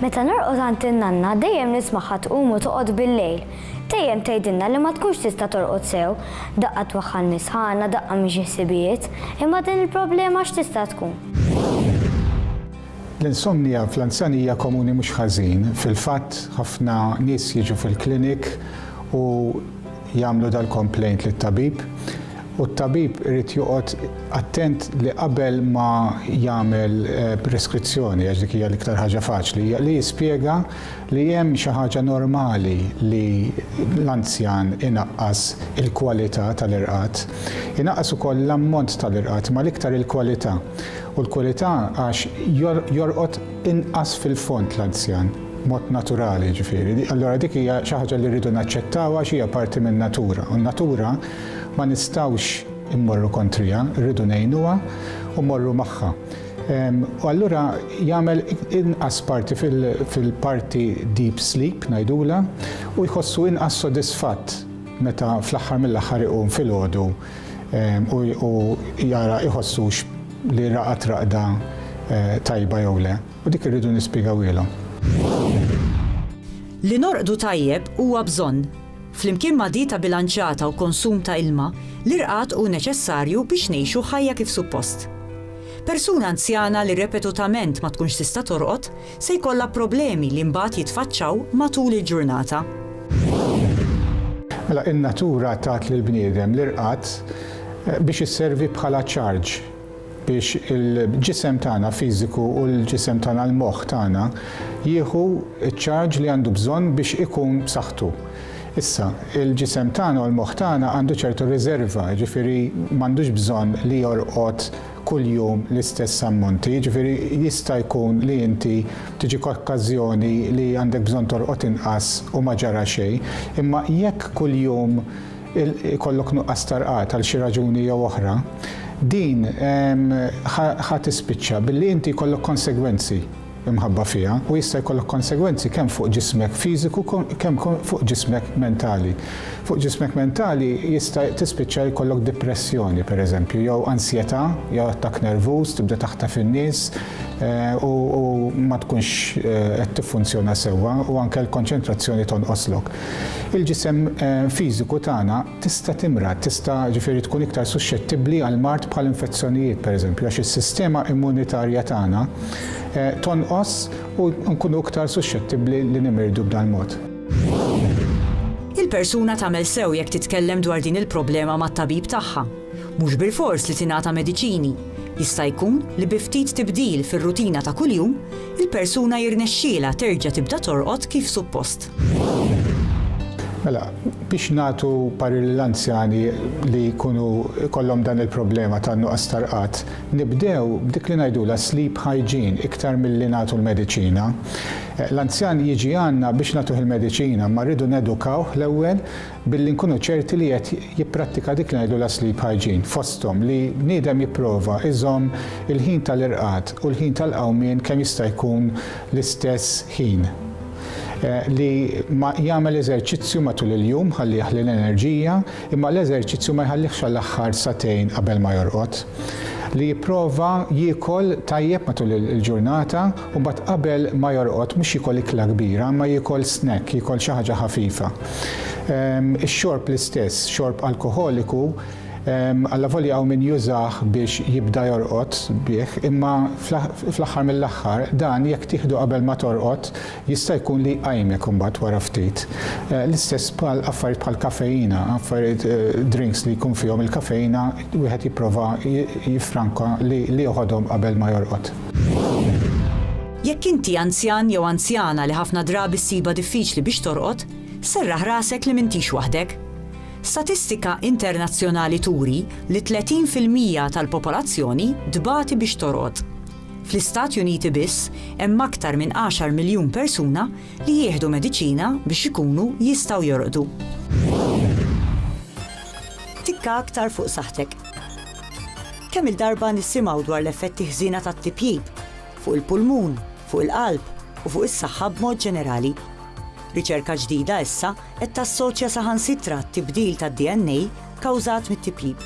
Meta norqod għand in-nanna dejjem nismagħha tqum u toqgħod bil-lejl. Dejjem tgħidilna li ma tkunx tista' torqod sew, daqqa twaħħal mis-sħana, daqqa minn xi ħsibijiet. Imma din il-problema x'tista' tkun? L-insomnija fl-anzjanija komuni mhux ħażin. Fil-fatt, ħafna nies jiġu fil-klinik u. jagħmlu dal-complaint lit-tabib u t-tabib irid joqgħod attent li qabel ma jagħmel preskrizzjoni, għax dik hija l-iktar ħaġa faċli, li jispjega li hemm xi ħaġa normali li l-anzjan inaqqas il-kwalità tal-irqad. Inaqqas ukoll l-ammont tal-irqad imma l-iktar il-kwalità u l-kwalità għax jorqod inqas fil-fond l-anzjan, b'mod naturali jiġifieri. Allura dik hija xi ħaġa li rridu naċċettaw għax hija parti min-natura. U n-natura ma nistgħux immorru kontriha, rridu ngħinuha u mmorru magħha. U allura jagħmel inqas parti fil-parti deep sleep ngħidulha u jħossu inqas sodisfatt meta fl-aħħar mill-aħħar iqum filgħodu u jara iħossux li raqad raqda tajba jew le, u dik irridu nispjegawhielhom. Li norqdu tajjeb huwa bżonn. Flimkien ma' dieta bilanċjata u konsum ta' ilma, l-irqad hu neċessarju biex ngħixu ħajja kif suppost. Persuna anzjana li repetutament ma tkunx tista' torqod se jkollha problemi li mbagħad jitfaċċaw matul il-ġurnata. Mela, in-natura tat lill-bniedem l-irqad biex isservi bħala ċarġ biex il-ġisem tagħna fiżiku u l-ġisem tagħna l-moħħ tagħna jieħu ċ-ċarġ li għandu bżonn biex ikun b'saħħtu. Issa, il-ġisem tagħna u l-moħħ tagħna għandu ċertu riżerva, jiġifieri m'għandux bżonn li jorqod kull jum l-istess ammonti, jiġifieri jista' jkun li inti tiġik okkażjoni li għandek bżonn tolqot inqas u ma ġara xejn, imma jekk kull jum ikollok nuqqas ta' rqad għal xi raġuni jew oħra, din ħa tispiċċa billi inti jkollok konsegwenzi. imħabba fiha u jista' jkollok konsegwenzi kemm fuq ġismek fiżiku kemm fuq ġismek mentali. Fuq ġismek mentali jista' tispiċċa jkollok dipressjoni pereżempju jew ansjetà jew attakk nervuż, tibda taħtaf in-nies u ma tkunx qed tiffunzjona sewwa u anke l-konċentrazzjoni tonqoslok. Il-ġisem fiżiku tagħna Tista' timrad, tista' ġifieri tkun iktar suxxettibbli għal mard bħal infezzjonijiet pereżempju għax is-sistema immunitarja tagħna tonqos u nkunu iktar suxxettibbli li nimirdu b'dal-mod. Il-persuna tagħmel sew jekk titkellem dwar din il-problema mat-tabib tagħha. Mhux bilfors li tingħata mediċini. Jista' jkun li bi ftit tibdil fir-rutina ta' kuljum, il-persuna jirnexxielha terġa' tibda torqod kif suppost. Mela, biex nagħtu parir lil anzjani li jkunu kollhom dan il-problema ta' nuqqas tarqad, nibdew b'dik li ngħidulha sleep hygiene iktar milli nagħtu l-mediċina. L-anzjan jiġi għandna biex nagħtuh il-mediċina, imma rridu nedukawh l-ewwel billi nkunu ċerti li qed jipprattika dik li ngħidulha sleep hygiene, fosthom li bniedem jipprova iżomm il-ħin tal-irqad u l-ħin tal-qawmien kemm jista' jkun l-istess ħin. li ma jagħmel eżerċizzju matul il-jum ħalli jaħli l-enerġija imma l-eżerċizzju ma jħallihx għall-aħħar sagħtejn qabel ma jorqod. Li jipprova jiekol tajjeb matul il-ġurnata u mbagħad qabel ma jorqod mhux jiekol ikla kbira imma jiekol snack, jiekol xi ħaġa ħafifa. Ix-xorb l-istess, xorb alkoħoliku, Allavolja hawn min jużah biex jibda jorqod bih, imma fl-aħħar mill-aħħar dan jekk tieħdu qabel ma torqod jista' jkun li jqajmek imbagħad wara ftit. L-istess bħal affarijiet bħal kafeina, affarijiet drinks li jkun fihom il-kafeina wieħed jipprova jiffranka li joħodhom qabel ma jorqod. Jekk inti anzjan jew anzjana li ħafna drabi ssibha diffiċli biex torqod, serraħ rasek li m'intix waħdek. Statistika internazzjonali turi li 30 fil-mija tal-popolazzjoni tbati biex torqod. Fl-Istati Uniti biss hemm aktar minn għaxar miljun persuna li jieħdu mediċina biex ikunu jistgħu jorqdu. Tikka aktar fuq saħħtek. Kemm-il darba nisimgħu dwar l-effetti ħżiena tat-tipjip fuq il-pulmun, fuq il-qalb u fuq is-saħħa b'mod ġenerali. Riċerka ġdida issa Qed tassoċja saħansitra t-tibdil tad-DNA kkawżat mit-tiplib.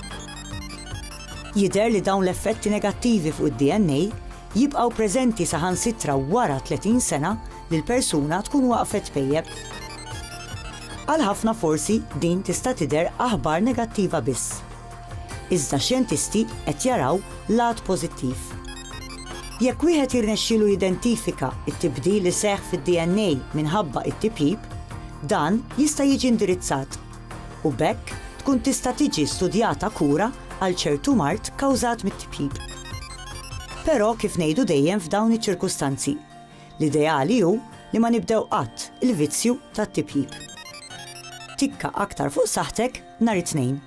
Jidher li dawn l-effetti negattivi fuq id-DNA jibqgħu preżenti saħansitra wara 30 sena li l-persuna tkun waqfet tpejjep. Għal ħafna forsi din tista' tidher aħbar negattiva biss. Iżda xjentisti qed jaraw l-għad pożittiv. Jekk wieħed jirnexxielu jidentifika t-tibdil li seħħ fid-DNA minħabba t-tipjip, dan jista' jiġi indirizzat u b'hekk tkun tista' tiġi studjata kura għal ċertu mard kawżat mit-tipjip. Però kif ngħidu dejjem f'dawn iċ-ċirkustanzi, l-ideali hu li ma nibdew qatt il-vizzju tat-tipjip. Tikka aktar fuq saħħtek nhar it-Tnejn.